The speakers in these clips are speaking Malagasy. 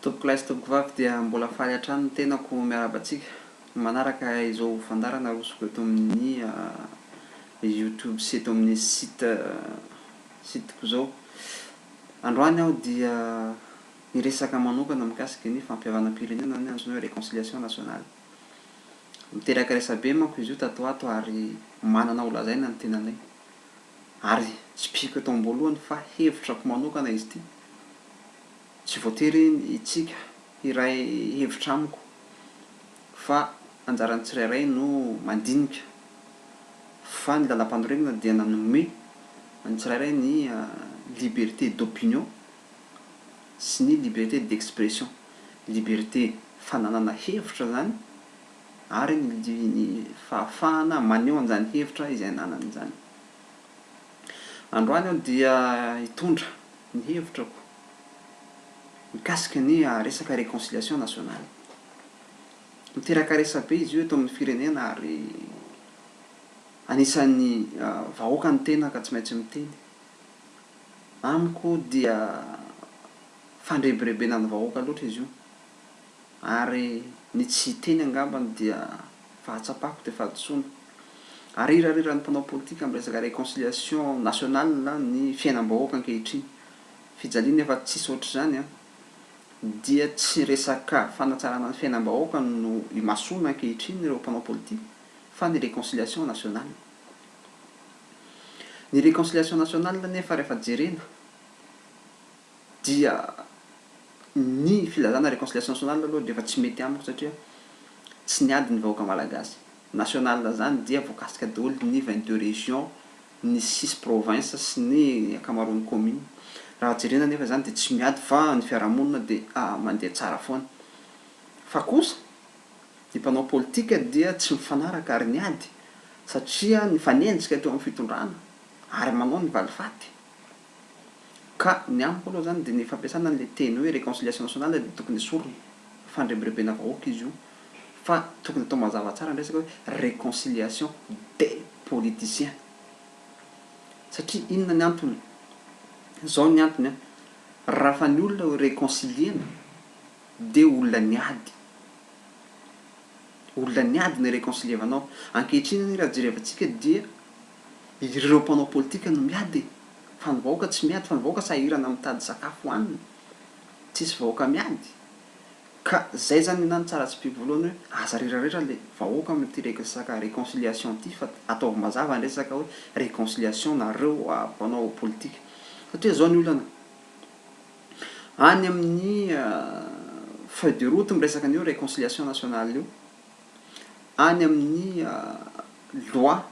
Tompoko lahy sy tompoko vavy dia mbola faly hatrany ny tenako miarahaba antsika manaraka izao fandaharana arosoko eto amin'ny youtube sy eto amin'ny site site ko izao androany aho dia hiresaka manokana mikasika ny fampihavanam-pirenena na antsoina hoe reconciliation nationale miteraka resabe manko izy io tato ho ato ary manana ho lazaina ny tenanay ary tsipihiko eto amboalohany fa hevitrako manokana izy ity, tsy voatery itsika hiray hevitra amiko fa anjaran'ny tsirairay no mandinika fa ny lalampanorenana dia nanome an'ny tsirairay ny liberté d'opinion sy ny liberté d'expression, liberté fananana hevitra izany, ary ny ny fahafahana maneho an'izany hevitra izay ananany izany. Androany aho dia hitondra ny hevitrako mikasika ny resaka reconciliation nationale. Miteraka resabe izy io eto amin'ny firenena ary anisan'ny vahoaka ny tena ka tsy maintsy miteny. Amiko dia fandrebirebena ny vahoaka loatra izy io. ary ny tsy hiteny angamba no dia fahatsapako dia fahadisoana. Arirariran'ny mpanao politika amin'ny resaka reconciliation nationale ny fiainam-bahoaka ankehitriny. Fijaliana efa tsisy ohatr'izany an! Dia tsy resaka fanatsarana ny fiainam-bahoaka no imasoana ankehitriny ireo mpanao politika fa ny reconciliation nationale. Ny reconciliation nationale anefa rehefa jerena dia ny filazana réconciliation nationale aloha dia efa tsy mety amiko satria tsy niady ny vahoaka malagasy, nationale izany dia voakasika daholo ny vingt deux régions, ny six provinces sy ny ankamaroan'ny communes, raha jerena anefa izany dia tsy miady fa ny fiarahamonina dia mandeha tsara foana, fa kosa ny mpanao politika dia tsy mifanaraka ary niady satria nifanenjika teo amin'ny fitondrana ary manao ny valifaty. Ka ny amiko aloha zany de ny fampiasana anle teny hoe reconciliation nationale de tokony esorina. Fandrebirebena vahoaka izy io. Fa tokony atao mazava tsara ny resaka hoe reconciliation des politiciens. Satria inona ny antony? Zao ny antony an, raha fa ny olona ho reconciliena de olona niady. Olona niady no reconcilievanao. Ankehitriny anie raha jerevantsika dia. Ireo mpanao politika no miady e! Fa ny vahoaka tsy miady, fa ny vahoaka sahirana mitady sakafo hohanina, tsisy vahoaka miady. Ka zay zany nenaha ny tsara tsipiko voalohany hoe aza reraretra le vahoaka amin'ity resaka reconciliation ty fa ataovy mazava ny resaka hoe reconciliation nareo mpanao politika. Satria zao ny olana, any amin'ny feuille de route miresaka an'io reconciliation nationale io, any amin'ny Loi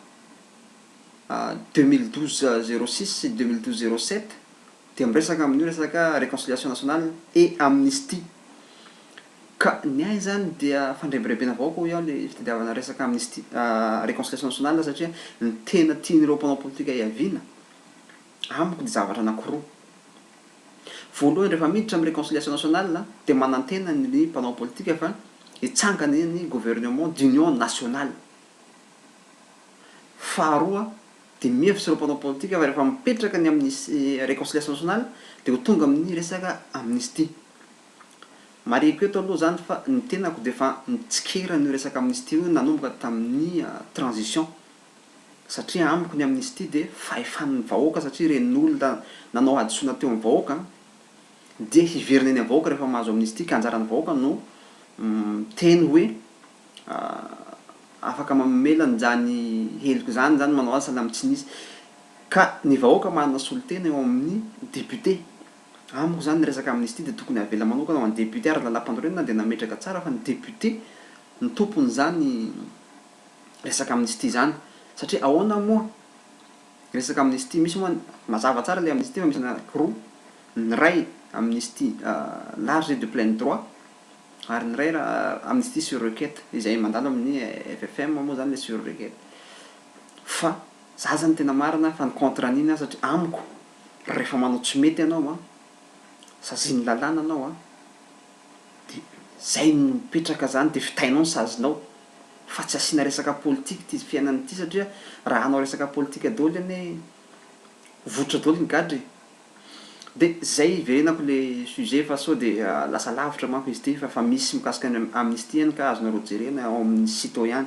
deux mille douze zéro six sy deux mille douze zéro sept dia miresaka amin'io resaka reconciliation nationale et amnistie. Ka ny ahy izany dia fandrebirebena vahoaka hoy aho ilay fitadiavana resaka amnistie reconciliation nationale satria ny tena tian'ireo mpanao politika hiaviana amiko dia zavatra anankiroa. Voalohany rehefa miditra amin'ny reconciliation nationale dia manantena ny mpanao politika fa hitsangana ny gouvernement d'union nationale. Faharoa dia mino avy sy ireo mpanao politika fa rehefa mipetraka ny amin'ny reconciliation nationale dia ho tonga amin'ny resaka amnistie. Marihiko eto aloha izany fa ny tenako dia efa nitsikera an'io resaka amnistie io nanomboka tamin'ny transition satria amiko ny amnistie dia fahefan'ny vahoaka satria ireny olona nanao hadisoana teo amin'ny vahoaka dia hiverina eny amin'ny vahoaka rehefa mahazo amnistie ka anjaran'ny vahoaka no miteny hoe afaka mamela an'izany heloka izany izany manao azy sahala amin'ny tsy nisy ka ny vahoaka manana solontena eo amin'ny député amiko izany ny resaka amnistie dia tokony havela manokana ho an'ny député ary ny lalam-panorenana dia nametraka tsara fa ny député no tompon'izany resaka amnistie zany satria ahoana moa resaka amnistie misy moa mazava tsara le amnistie fa misy anaky roa ny iray amnistie large et de plein droit ary ny iray amnistie sur requete izay mandalo amin'ny FFM moa zany le sur requete fa za zany tena marina fa ny contre an'iny aho satria amiko rehefa manao tsy mety ianao an sazian'ny lalàna anao an de zay no mipetraka zany de vitainao ny sazinao fa tsy asiana resaka politika ity fiainana ity satria raha hanao resaka politika doly anie vototra doly ny gadra e! de zay hiverenako le sujet fa sao de lasa lavitra manko izy ity fa fa misy mikasika ny amnistie any ka azonareo jerena ao amin'ny site ao ihany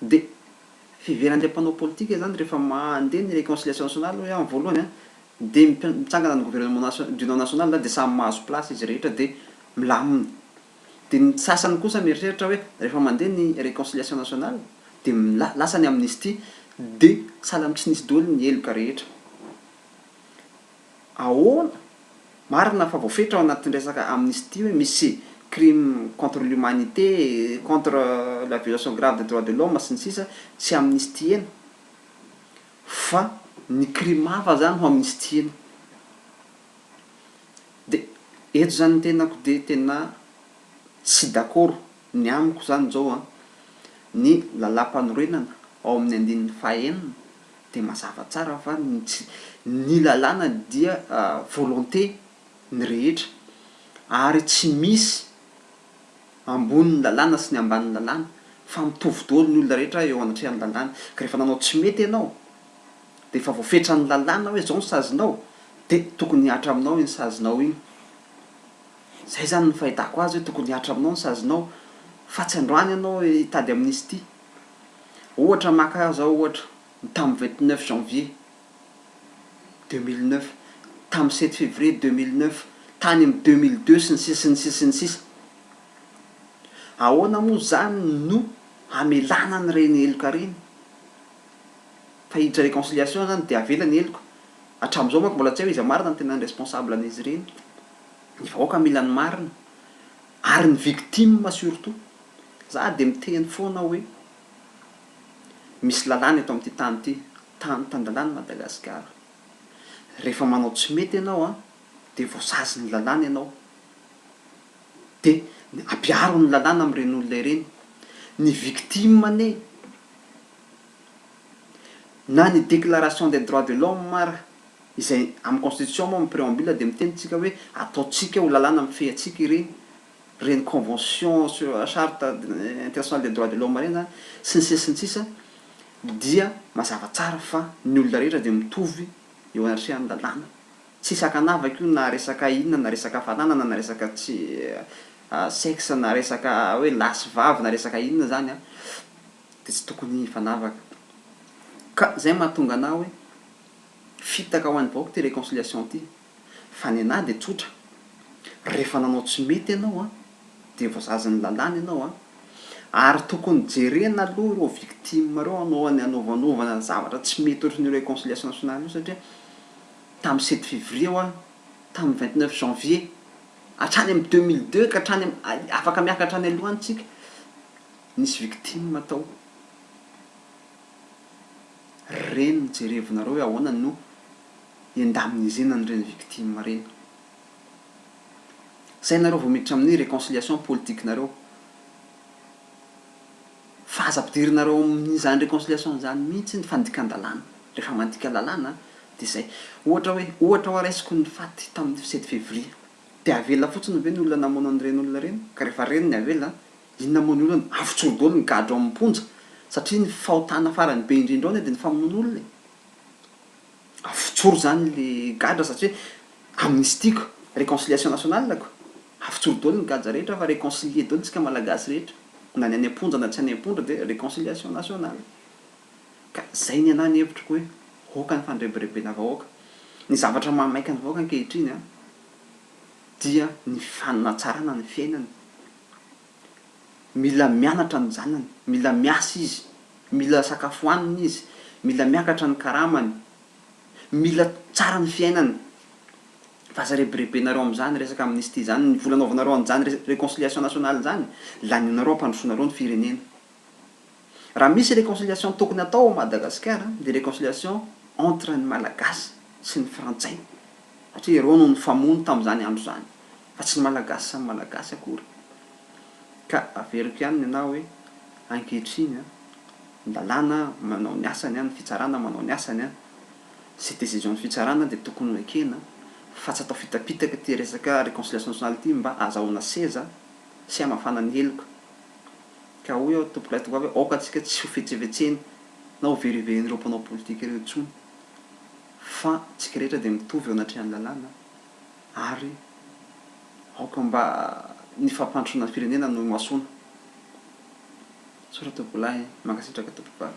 de fiveran'ilay mpanao politika zany rehefa mandeha ny reconciliation nationale hoe any voalohany an de mitsangana ny gouvernement national d'union nationale de samy mahazo place izy rehetra de milamina Dia ny sasany kosa mieritreritra hoe rehefa mandeha ny reconciliation nationale dia mila lasa ny amnistie dia sahala amin'ny tsy nisy doly ny heloka rehetra. Ahoana? Marina fa voafetra ao anatin'ny resaka amnistie hoe misy crime contre l'humanité, contre la violation grave des droits de l'homme sy ny sisa tsy amnistiena. Fa ny crime hafa zany no amnistiena. De eto zany ny tenako de tena tsy dakoro, ny amiko zany zao an, ny lalàmpanorenana ao amin'ny andininy fahenina de mazava tsara fa ny tsy, ny lalàna dia volonté ny rehetra ary tsy misy, ambonin'ny lalàna sy ny ambanin'ny lalàna, fa mitovy daholo ny olona rehetra eo anatrehan'ny lalàna, ka rehefa nanao tsy mety ianao, dia efa voafetran'ny lalàna hoe izao ny sazinao, dia tokony hihatra aminao iny sazinao iny. Izay izany no fahitako azy hoe tokony hihatra aminao ny sazinao, fa tsy androany ianao hitady amnistie. Ohatra, maka ahy izao ohatra, ny tamin'ny vingt neuf janvier. deux mille neuf, tamin'ny sept février deux mille neuf, tany amin'ny deux mille deux sy ny sisa sy ny sisa sy ny sisa. Ahoana moa izany no hamelana an'ireny heloka ireny? Fa hiditra réconciliation izany dia avela ny heloka. Hatramin'izao manko mbola tsy hay hoe iza marina no tena responsable an'izy ireny. Ny vahoaka mila ny marina ary ny victime surtout. Za dia miteny foana hoe misy lalàna eto amin'ity tany ity. Tany tan-dalàna Madagasikara. Rehefa manao tsy mety ianao an, dia voasazy ny lalàna ianao. Dia ampiaro ny lalàna amin'ireny olona ireny. Ny victime anie, na ny déclaration des droits de l'homme ara, izay amin'ny constitution moa amin'ny préambule dia miteny tsika hoe ataontsika ho lalàna mifehy antsika ireny. ireny convention sur la charte internationale des droits de l'homme ireny zany sy ny sisa sy ny sisa dia mazava tsara fa ny olona rehetra dia mitovy eo anatrehan'ny lalàna. Tsisy ankanavaka io na resaka inona na resaka fananana na resaka tsy sexe na resaka hoe lahy sy vavy na resaka inona zany an dia tsy tokony hifanavaka ka izay mahatonga anah hoe fitaka ho an'ny vahoaka ity réconciliation ity. Fa ny anah dia tsotra, rehefa nanao tsy mety ianao an, dia voazazin'ny lalàna ianao an, ary tokony jerena aloha ireo victimes ireo alohan'ny hanaovanovana zavatra tsy mety ohatry ny reconciliation nationale io satria tamin'ny sept février ho any, tamin'ny vingt neuf janvier, hatrany amin'ny deux mille deux ka hatrany amin'ny, afaka miaka hatrany aloha any tsika, nisy victimes tao. Reny no jerevinareo hoe ahoana no. indemnisena an'ireny victime ireny. Zay nareo vao miditra amin'ny reconciliation politique nareo. Fa aza ampidirinareo amin'izany reconciliation izany mihitsy ny fandikan-dalàna. Rehefa mandika lalàna dia zay. Ohatra hoe, ohatra hoa raisiko ny faty tamin'ny sept février. Dia avela fotsiny ve ny olona namono an'ireny olona ireny? Ka rehefa reny ny avela, inona moa ny olana? Avotsory daholo ny gadra ao am-ponja. Satria ny fahotana farany be indrindra ao anie dia ny famonoana olona e. Avotsoro zany le gadra satria amnistiako reconciliation nationale ko avotsoro daholo ny gadra rehetra fa reconcilier daholo tsika malagasy rehetra na ny any amponja na tsy any amponja de reconciliation nationale ka zay ny anahy ny hevitro ko hoe aoka ny fandrebirebena vahoaka ny zavatra mahamaika ny vahoaka ankehitriny an dia ny fifanatsarana ny fiainana. mila mianatra ny zanany, mila miasa izy, mila sakafo hanina izy, mila miakatra ny karamany, mila tsara ny fiainany, fa aza rebirebenareo amin'izany resaka amnistie izany, ny vola anaovanareo an'izany réconciliation nationale izany, lanianareo hampandrosoanareo ny firenena. Raha misy reconciliation tokony atao ao Madagasikara dia reconciliation entre ny Malagasy sy ny Frantsay satria ireo no nifamono tamin'izany andro izany fa tsy ny Malagasy samy Malagasy akory. Ka averiko ihany ny anà hoe ankehitriny an, ny lalàna manao ny asany an, ny fitsarana manao ny asany an, izay décision ny fitsarana dia tokony ho ekena fa tsy atao fitapitaka ity resaka reconciliation nationale ity mba ahazahoana seza sy hamafana ny heloka. Ka hoy aho, Tompon'ilay tovovavy hoe, Aoka antsika tsy hofetsefetsena na hoveriverin'ireo mpanao politika ireo intsony, fa antsika rehetra dia mitovy eo anatrehan'ny lalàna, ary aoka mba ny fampandrosoana ny firenena no imasoana. Misaotra Tompolahy, mankasitraka Tompobavy.